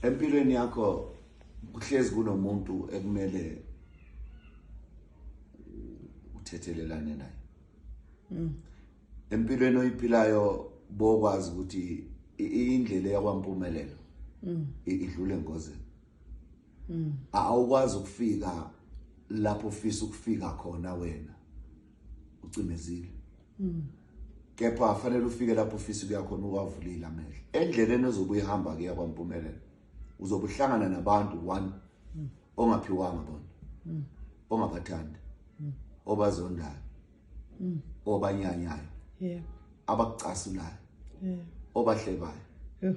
Empilweni yakho kuhlezi kunomuntu ekumele uthethelelane naye. Mm. Empilweni oyiphilayo bokwazi ukuthi indlela yakwampumelelo mm. idlule ngozini. Mm. Awukwazi ukufika lapho ufisa ukufika khona wena. ucimezile mm. kepha fanele ufike lapho ufisa ukuya khona uwavulile amehlo endleleni ozobe uyihamba ke yakwampumelelo uzobe uhlangana nabantu one mm. ongaphiwanga bona mm. ongabathandi mm. obazondayo mm. obanyanyayo yeah. abakucasulayo yeah. obahlebayo yeah.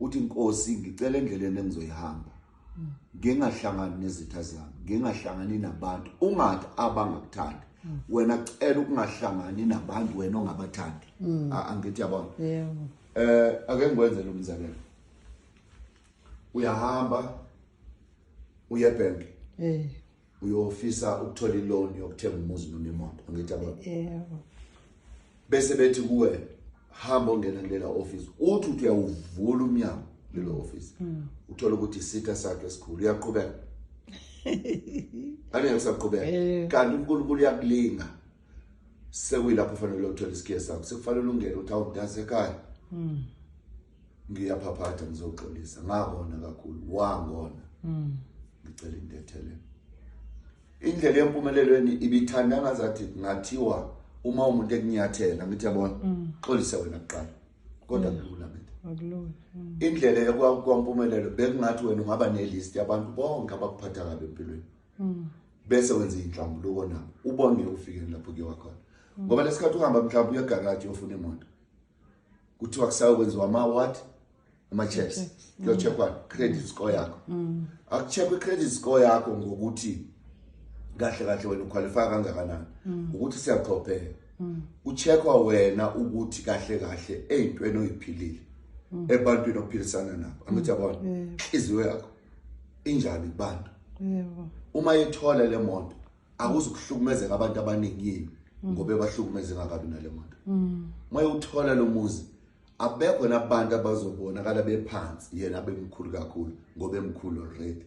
uthi inkosi ngicela endleleni engizoyihamba ngingahlangani nezitha zami ngingahlangani nabantu ungathi abangakuthandi wena cela ukungahlangani nabantu wena ongabathandi mm. angithi yabona eh ake ngikwenze lo mzalelo uyahamba uyebhenki eh uyofisa ukuthola iloan yokuthenga umuzi noma imoto angithi yabo yebo bese bethi kuwe hamba ongena kulela office uthi uthi uyawuvula umnyango lelo mm. office mm. uthola ukuthi isitha sakhe esikhulu uyaqhubeka ane usaqhubeka eh. kanti uNkulunkulu uyakulinga sekuyilapho ufanele uthola isikhiye sakho sekufanele ungene uthi awundazi ekhaya mm. ngiyaphaphatha ngizoxolisa ngakona kakhulu wangona mm. ngicela indethele indlela yempumelelweni ibithanda ngazathi ngathiwa uma umuntu ekunyathela ngithi yabona mm. xolisa wena kuqala kodwa mm. kulula mina mm. indlela yokwampumelelo bekungathi wena ungaba nelist yabantu bonke abakuphatha kabi empilweni bese wenza inhlambuluko nabo ubone ufikeni lapho kuyiwa khona ngoba lesikhathi uhamba mhlawumbe uyagaraji yofuna imoto kuthiwa kusayokwenziwa ama-award ama-checks mm. kuyocheckwa credit score yakho mm. akucheckwe credit score yakho ngokuthi kahle kahle wena uqualifya kangakanani mm. ukuthi siyaqhophela kucheckwa wena ukuthi kahle kahle eyintweni oyiphilile ebantwini ophilisana nabo angithi yabona inhliziyo yakho injani kubantu uma ithola le moto akuzukuhlukumezeka abantu abaningi yini mm. ngoba ebahlukumezeka kabi nale moto mm. moya uthola lo muzi abekho nabantu abazobonakala bephansi yena abemkhulu kakhulu ngoba emkhulu already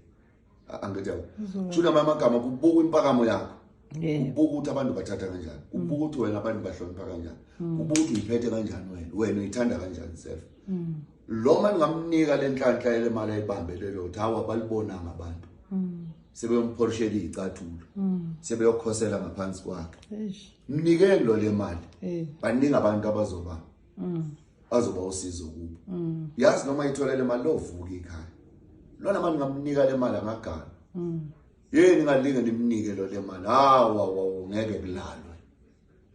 angithi shula amagama kubuka impakamo yakho ubuka ukuthi abantu bathatha kanjani mm. ubuka ukuthi wena abantu bahlonipha kanjani ubuka ukuthi uyiphethe kanjani wena wena uyithanda kanjani self lo mani ngamnika le nhlanhla ele mali ayibambe lelo ukuthi hawu abalibonanga abantu mm. sebeyomphorishela iy'cathulo mm. sebeyokhosela ngaphansi kwakhe mnikeni lo le mali eh. baningi abantu abazoba mm. bazoba usizo kubo yazi noma ithola le mali lovuka ikhaya lona mani ngamnika le mali angagana yini ngalinge nimnike lo le mali hawa wawu ngeke kulalwe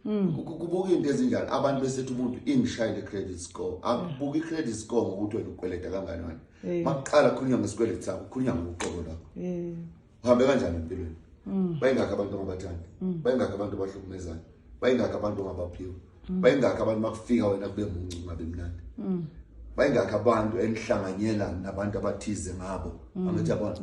Mm. kubuka into ezinjani abantu besethi umuntu ingishayile credit score akubuki credit score ngokuthi wena ukweleta kanganani eh. makuqala khulunywa ngesikweletu sakho khulunywa ngokuqobo lakho eh. uhambe kanjani empilweni mm. bayingakho abantu ongabathandi mm. bayingakho abantu abahlukumezayo bayingakho abantu ongabaphiwa bayingakho abantu makufika wena kube muncu ungabe mnandi bayingakho abantu enihlanganyela nabantu abathize ngabo angithi yabona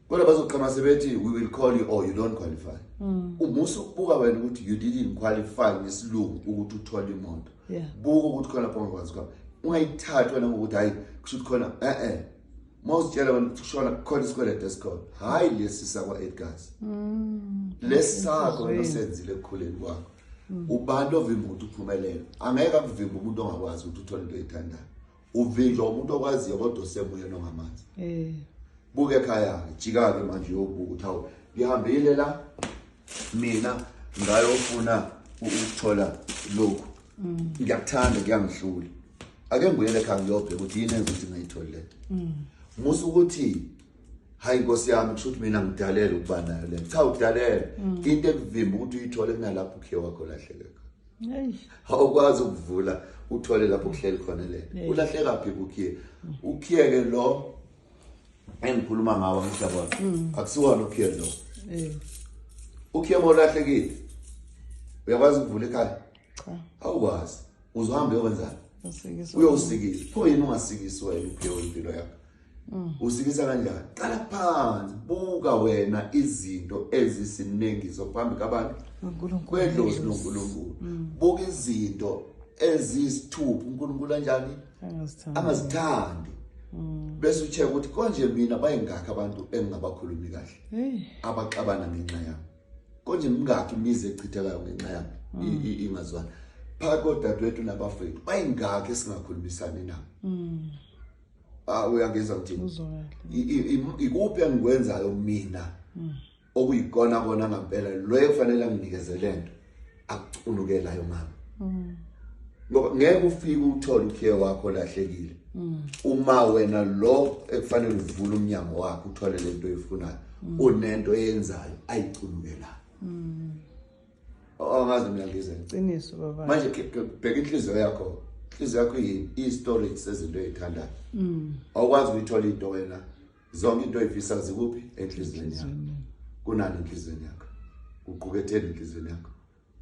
kodwa bazoqhama sebethi we will call you or you don't qualify mm. umusa ukubuka wena ukuthi you didn't qualify ngesilungu ukuthi uthole imoto yeah. buka ukuthi khona phonga kwazi kwakho ungayithathwa nangokuthi hhayi kusho ukuthi khona e-e uma uzitshela wena ukuthi kushona kukhona isikwelede esikhona hhayi lesi sakwa-edgars mm. lesi sakho wena osenzile ekukhuleni kwakho mm. ubani ovimba ukuthi uphumelele angeke akuvimba umuntu ongakwazi ukuthi uthole into oyithandayo uvinjwa umuntu okwaziyo kodwa usemuyena ongamanzi eh buke ekhaya jikake manje yobuka ukuthi hawu ngihambile la mina ngayofuna ukuthola lokhu mm. ngiyakuthanda kuyangihlula ake ngibuyele ekhaya ngiyobheka ukuthi yini enza ukuthi ngayitholi le nto mm. musa ukuthi hayi nkosi yami kusho ukuthi mina ngidalele ukuba nayo le cha udalela mm. into ekuvimba ukuthi uyithole kunalapho ukhiye wakho lahlekeka awukwazi ukuvula uthole lapho kuhleli khona lena ulahleka phi kukhiye ukhiye ke lo engikhuluma ngawo ngisabona mm. akusiwona ukhiye lo ukhiye molahlekile uyakwazi ukuvula ekhaya cha awukwazi uzohambe uyokwenzani uyosikisa pho yini ungasikisi wena ukhiye wempilo yakho Mm. usikisa kanjani qala phansi buka wena izinto ezisiningi zophambi kabantu kwedlozi noNkulunkulu mm. buka izinto ezisithupha uNkulunkulu kanjani angazithandi mm. bese ucheka ukuthi konje mina bayingakho abantu engingabakhulumi kahle abaxabana ngenxa yami konje mingakho imizi echithekayo ngenxa yami ingazwana phakathi kodadewethu nabafethu bayingakho esingakhulumisani nabo ah uyangizwa mthini ikuphi engikwenzayo mina hmm. okuyikona kona ngempela loye kufanele anginikeze lento akucunukelayo mama hmm. ngoba ngeke ufike uthole ukhe wakho lahlekile hmm. uma wena lo ekufanele uvule umnyango wakho uthole lento oyifunayo unento eyenzayo ayicunukelayo angazi mina ngize qiniso baba manje bheka inhliziyo yakho inhliziyo yakho yini i-storage sezinto eyithandayo mm. awukwazi ukuyithola into wena zonke into oyifisa zikuphi enhliziyweni yakho kunani enhliziyweni yakho uquketheni enhliziyweni yakho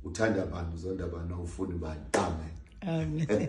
uthanda abantu uzonda abantu awufuni bani amen amen